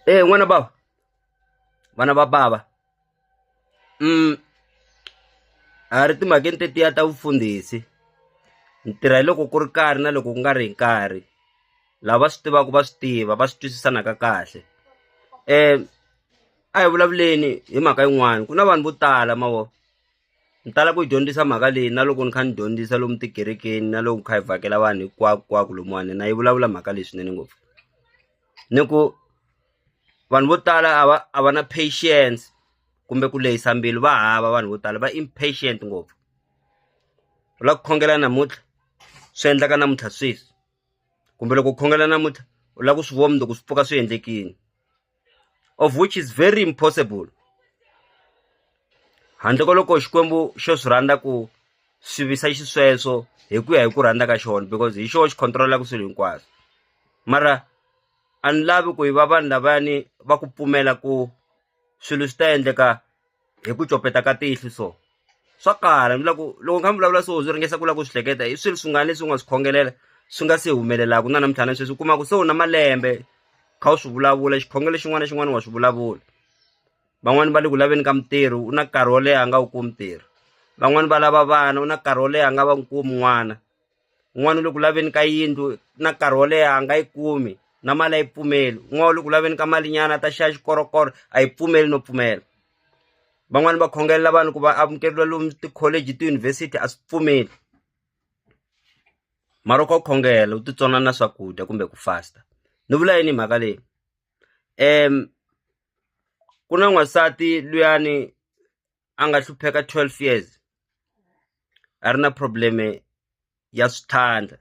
e eh, n'wana bava vana va bava um a ri timhakeni tetiya ta vufundhisi ni tirha hi loko ku ri karhi na loko ku nga ri hi nkarhi lava swi tivaka va swi tiva va swi twisisanaka kahle um a hi vulavuleni hi mhaka yin'wana ku na vanhu vo tala mavo Ni tala ku yi dyondzisa mhaka leyi na loko ni kha ni dyondzisa lomu tikerekeni na loko ni kha hi vhakela vanhu hinkwakonkwako lomuwani na yi vulavula mhaka leyi swinene ngopfu ni ku vanhu vo tala a va a va na patience kumbe ku lehisa mbilu va hava vanhu vo tala va impatient ngopfu u la ku khongela namuntlha swi endleka namuntlha sweswi kumbe loko u khongela namuntlha u la ku swi vona mundzuku swi pfuka swi endlekini. of which is very impossible handle ko loko xikwembu xo swi rhandza ku swi visa xisweswo hi ku ya hi ku rhandza ka xona because hi xona xi controlaka swilo hinkwaswo mara a ni lavi ku yi va vanhu lavayani va ku pfumela ku swilo swi ta endleka hi ku copeta ka tihlo so swa kala ni loko loko kha mi vulavula so byi ringesa ku lava ku swi hleketa i swilo swin'wana leswi u nga swi khongelela swi nga se humelelaka na namuntlha na sweswi u kuma ku se u na malembe kha u swi vulavula xikhongelo xin'wana na xin'wana wa swi vulavula van'wani va le ku laveni ka mitirho u na nkarhi wo leha a nga wu kumi ntirho van'wani va lava vana u na nkarhi wo leha a nga va n'wi kumi n'wana. un'wana u le ku laveni ka yindlu na nkarhi wo leha a nga yi kumi na mali a yi pfumeli un'wana u le ku laveni ka malinyana ta xava xikorokoro a yi pfumeli no pfumela van'wani va khongelela vanhu ku va amukeriwa lomu tikholeji tiyunivhesiti a swi pfumeli mara u kha u khongela u titsona na swakudya kumbe ku fasta ni vula yini mhaka leyi um ku na n'wansati luyani a nga hlupheka 12 years a ri na probleme ya swithanda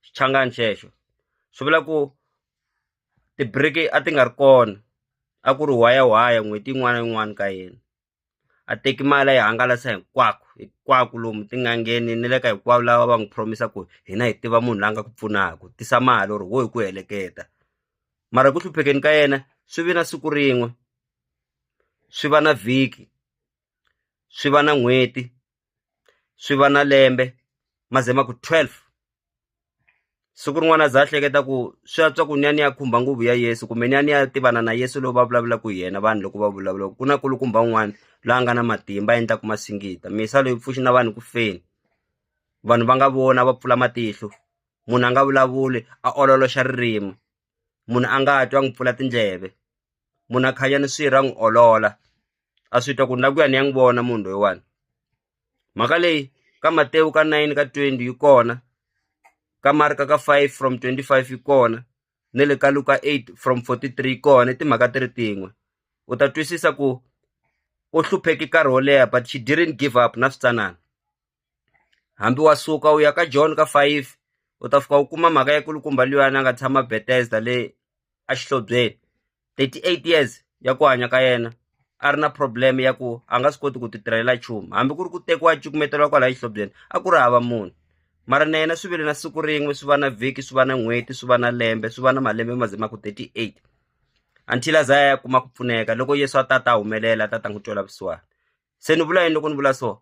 xichangani xexo swi vula ku ti-break a ti nga ri kona a ku ri waya waya n'hweti yin'wana na yin'wana ka yena a teki mali a yi hangalasa hinkwako hinkwako lomu tin'angeni ni le ka hinkwavo lava va n'wi promisa ku hina hi tiva munhu la nga ku pfunaka tisa mali or wo hi ku heleketa mara ku hluphekeni ka yena swi vi na siku rin'we swi va na vhiki swi va na n'hweti swi va na lembe ma ze ma ku twelve siku rin'wana a za a hleketa ku swi antswa ku ni ya ni ya khumba nguvu ya Yeso kumbe ni ya ni ya tivana na Yeso lowu va vulavulaka hi yena vanhu loko va vulavula ku na kulukumba un'wana loyi a nga na matimba a endlaka masingita misa loyi pfuxi na vanhu ku feni vanhu va nga vona va pfula matihlo munhu a nga vulavuli a ololoxa ririmi. munhu a nga twi a n'wi pfula tindleve munhu a khanya ni swirho a n'wi olola a swi twa ku ni la ku ya ni ya n'wi vona munhu loyiwani mhaka leyi ka Matewu ka nine ka twenty yi kona ka Marka ka five from twenty five yi kona ne le ka Luka eight from fourty three yi kona i timhaka ti ri tin'we u ta twisisa ku u hlupheke nkarhi wo leha but she didn't give up na switsanana. hambi wa suka u ya ka John ka five u ta fika u kuma mhaka ya kulukumba luyani a nga tshama Bethesda le a xihlobyeni thirty eight years ya ku hanya ka yena a ri na problem ya ku a nga swi koti ku ti tirhela nchumu hambi ku ri ku tekiwa cukumeteliwa kwalaya xihlobyeni a ku ri hava munhu mara na yena swi vile na siku rin'we swi va na vhiki swi va na n'hweti swi va na lembe swi va na malembe ma ze ma ku thirty eight until a za ya kuma ku pfuneka loko yesu a ta ta humelela a ta ta n'wi twela vusiwana se ni vula yini loko ni vula so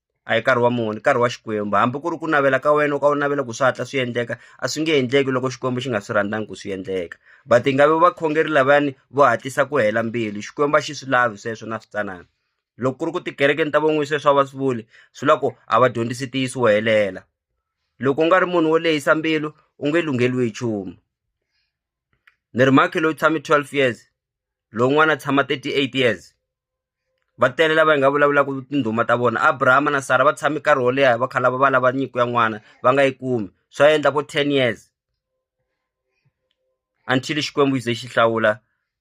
a hi nkarhi wa munhu i nkarhi wa Xikwembu hambi ku ri ku navela ka wena u ka u navela ku swi hatla swi endleka a swi nge endleki loko Xikwembu xi nga swi rhandzangi ku swi endleka but hi nga vi vakhongeri lavayani vo hatlisa ku hela mbilu Xikwembu a xi swi lavi sweswo na switsanana loko ku ri ku tikerekeni ta van'wini sweswo a va swi vuli swi la ku a va dyondzisi ntiyiso wo helela loko u nga ri munhu wo lehisa mbilu u nge lungheliwi hi nchumu ni ri mhakhi loyi tshame twelve years lowun'wana a tshama thirty eight years. va tele lava hi nga vulavulaka tindhuma ta vona abrahama na sara va tshame nkarhi wo leha va khala va va lava nyiko ya n'wana va nga yi kumi swa endla vo ten years until xikwembu xi ze xi hlawula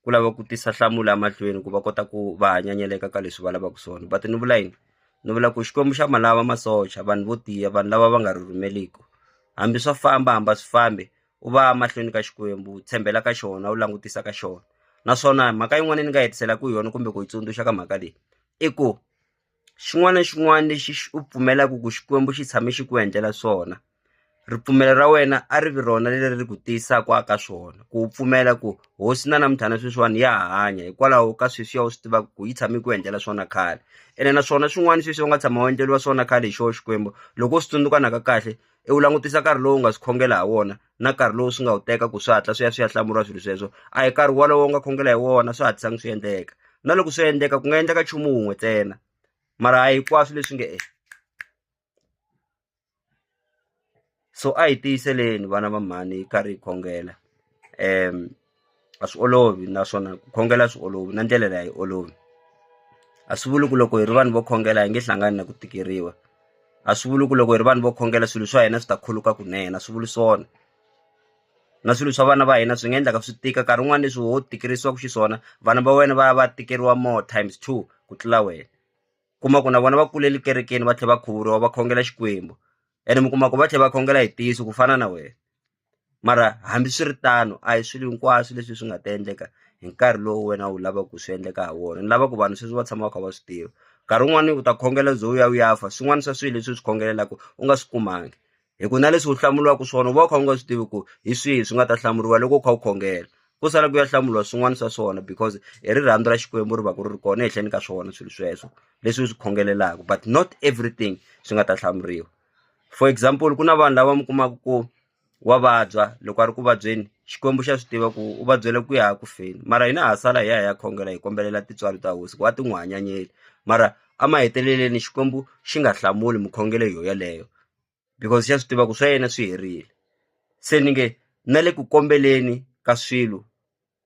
ku lava ku tisa nhlamulo emahlweni ku va kota ku va hanyanyeleka ka leswi va lavaka swona va ti ni vula yini ni vula ku xikwembu xa ma lava masocha vanhu vo tiya vanhu lava va nga ri rhumeliku hambi swa famba hamba swi fambi u va mahlweni ka Xikwembu u tshembela ka xona u langutisa ka xona naswona mhaka yin'wana ni nga hetisela ku yona kumbe ku yi tsundzuxa ka mhaka leyi i ku xin'wana na xin'wana lexi u pfumelaka ku Xikwembu xi tshame xi ku endlela swona ripfumelo ra wena a ri vi rona leri ri ku tiyisaka ka swona ku u pfumela ku hosi na namuntlha na sweswiwani ya hanya hikwalaho ka sweswi ya u swi tivaka ku yi tshame ku endlela swona khale ene naswona swin'wana sweswi u nga tshama u endleriwa swona khale hi xoho Xikwembu loko u swi tsundzuka na ka kahle i wu langutisa nkarhi lowu nga swi khongela hi wona na nkarhi lowu swi nga wu teka ku swi hatla swi ya swi ya hlamuriwa swilo sweswo a hi nkarhi wolowo u nga khongela hi wona swi hatlisanga swi endleka na loko swi endleka ku nga endleka nchumu wun'we ntsena mara a hinkwaswo leswi nge e so a hi tiyiseleni vana va mhani hi karhi hi khongela um a swi olovi naswona ku khongela a swi olovi na ndlela leyi a yi olovi a swi vuli ku loko hi ri vanhu vo khongela hi nge hlangani na ku tikeriwa a swi vuli ku loko hi ri vanhu vo khongela swilo swa hina swi ta khuluka kunene a swi vuli swona na swilo swa vana va hina swi nga endlaka swi tika nkarhi wun'wani leswi ho tikerisaku xiswona vana va wena va ya va tikeriwa more times two ku tlula wena kuma ku na vona va kulele kerekeni va tlhe va khuvuriwa va khongela Xikwembu ene mi kuma ku va tlhe va khongela hi ntiyiso ku fana na wena. mara hambiswiritano a hi swilo hinkwaswo leswi swi nga ta endleka hi nkarhi lowu wena u lavaka ku swi endleka ha wona ni lava ku vanhu sweswi va tshama va kha va swi tiva nkarhi wun'wani u ta khongela ze u ya u ya fa swin'wana swa swilo leswi u swi khongelelaku u nga swi kumangi hi ku na leswi u hlamuriwaka swona u va u kha u nga swi tivi ku hi swihi swi nga ta hlamuriwa loko u kha u khongela ku sala ku ya hlamuriwa swin'wana swa swona because hi rirhandzu ra xikwembu ri va ku ri ri kona ehenhleni ka swona swilo sweswo leswi u swi khongelelaku but not everything swi nga ta hlamuriwa for example ku na vanhu lava mi kumaka ku wa vabya loko a ri ku vabyeni Xikwembu xa swi tiva ku u vabyele ku ya ku feni mara hina ha sala hi ya hi ya khongela hi kombelela tintswalo ta hosi ku a ti n'wi hanyanyeli mara emahetelelweni Xikwembu xi nga hlamuli mukhongelo yo yeleyo because xa swi tiva ku swa yena swi herile se ni nge na le ku kombeleni ka swilo.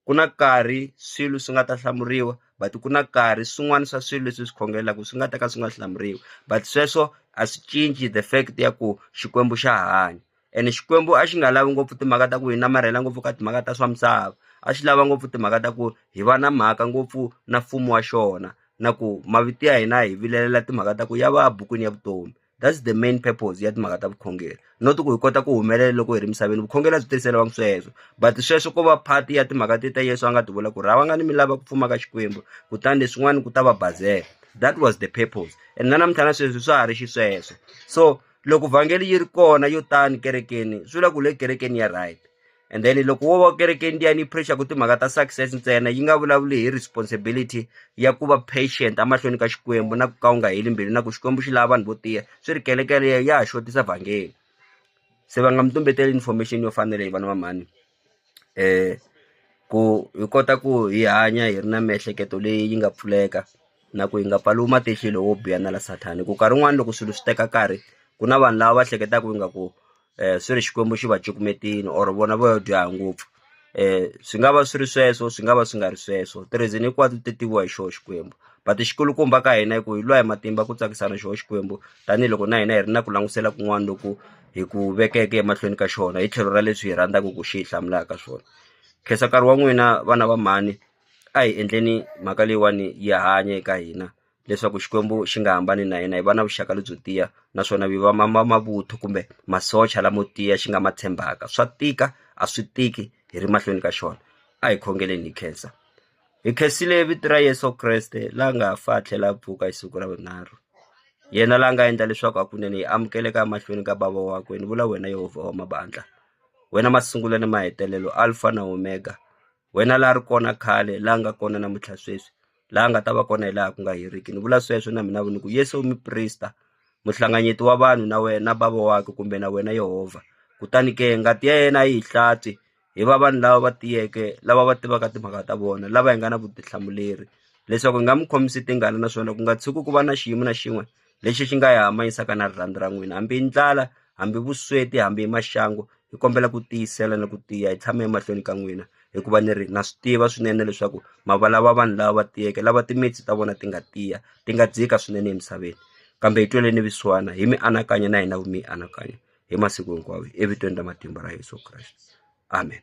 ku na nkarhi swilo swi nga ta hlamuriwa but ku na nkarhi swin'wana swa swilo leswi swi khongelaka swi nga ta ka swi nga hlamuriwi but sweswo a swi cinci the fact ya ku xikwembu xa hanya ene xikwembu a xi nga lavi ngopfu timhaka ta ku hi namarhela ngopfu ka timhaka ta swa misava a xi lava ngopfu timhaka ta ku hi va na mhaka ngopfu na mfumo wa xona na ku mavito ya hina hi vilelela timhaka ta ku ya va bukwini ya vutomi that's the main purpose ya timhaka ta vukhongeri not ku hi kota ku humelela loko hi ri misaveni vukhongeri a byi tirhiseriwangi sweswo but sweswo ko va part ya timhaka ti ta yesu a nga ti vula ku ri hava nga ni mi lava ku pfumaka xikwembu kutani leswin'wana ku ta va bazela that was the purpose and na namuntlha na sweswi swa ha ri xisweswo so loko vhangeli yi ri kona yo tani kerekeni swi vula ku le kerekeni ya right and then loko wo va kerekeni liya ni pressure ku timhaka ta success ntsena yi nga vulavuli hi responsibility ya ku va patient emahlweni ka xikwembu na ku ka u nga heli mbilu na ku xikwembu xi lava vanhu vo tiya swi ri kelekele ya ha xotisa vhangeli se va nga mi tumbeteli information yo fanele hi vana va mhani um ku hi kota ku hi hanya hi ri na miehleketo leyi yi nga pfuleka na ku yi nga pfaliwi matihlo lowo biha na la sathana ku nkarhi wun'wani loko swilo swi teka nkarhi ku na vanhu lava va hleketaka ingaku eh, swi ri xikwembu xi va cukumetini or vona vo yo dyoha ngopfu um swi nga va swi ri sweswo swi nga va swi nga ri sweswo tirizini hinkwato ti tiviwa hi xoho xikwembu but xikulukumba ka hina hi ku hi lwa hi matimba ku tsakisana xoho xikwembu tanihiloko na hina hi ri na ku langutisela kun'wana loku hi ku vekeke emahlweni ka xona hi tlhelo ra leswi hi rhandzaka ku xi hi hlamulaka swona khensa nkarhi wa n'wina vana va mhani a hi endleni mhaka leyiwani yi hanya eka hina leswaku xikwembu xi nga hambani na hina hi va na vuxaka lebyo tiya naswona hi va mavuthu kumbe masocha lamo tiya xi nga ma tshembaka swa tika a swi tiki hi ri mahlweni ka xona a hi khongeleni hi khensa hi khensile vito ra yesu kreste la nga fa a tlhela a pfuka hi siku ra vunharhu yena la nga endla leswaku hakunene hi amukeleka emahlweni ka bava wakwe ni vula wena yehovha wa mabandla wena masungulo ni mahetelelo alfa na omega wena la ri kona khale la nga kona namuntlha sweswi la nga ta va kona hi laha ku nga heriki ni vula sweswo na mina ni ku Yesu u muprista muhlanganyeti wa vanhu na wena bava wakwe kumbe na wena Yehovha kutani ke ngati ya yena a yi hlatsi hi va vanhu lava va tiyeke lava va tivaka timhaka ta vona lava hi nga na vutihlamuleri leswaku hi nga mi khomisi tingana naswona ku nga tshuki ku va na xiyimo na xin'we lexi xi nga hi hambanyisaka na rirhandzu ra n'wina hambi i ndlala hambi vusweti hambi i maxangu hi kombela ku tiyisela ni ku tiya hi tshame emahlweni ka n'wina hikuva ni ri na swi tiva swinene leswaku mavalava vanhu lava va tiyeke lava timitsu ta vona ti nga tiya ti nga dzika swinene emisaveni kambe hi tweleni vusiwana hi mianakanyo na hina mianakanyo hi masiku hinkwawo evitweni ra matimba ra Yeso Kreste amen.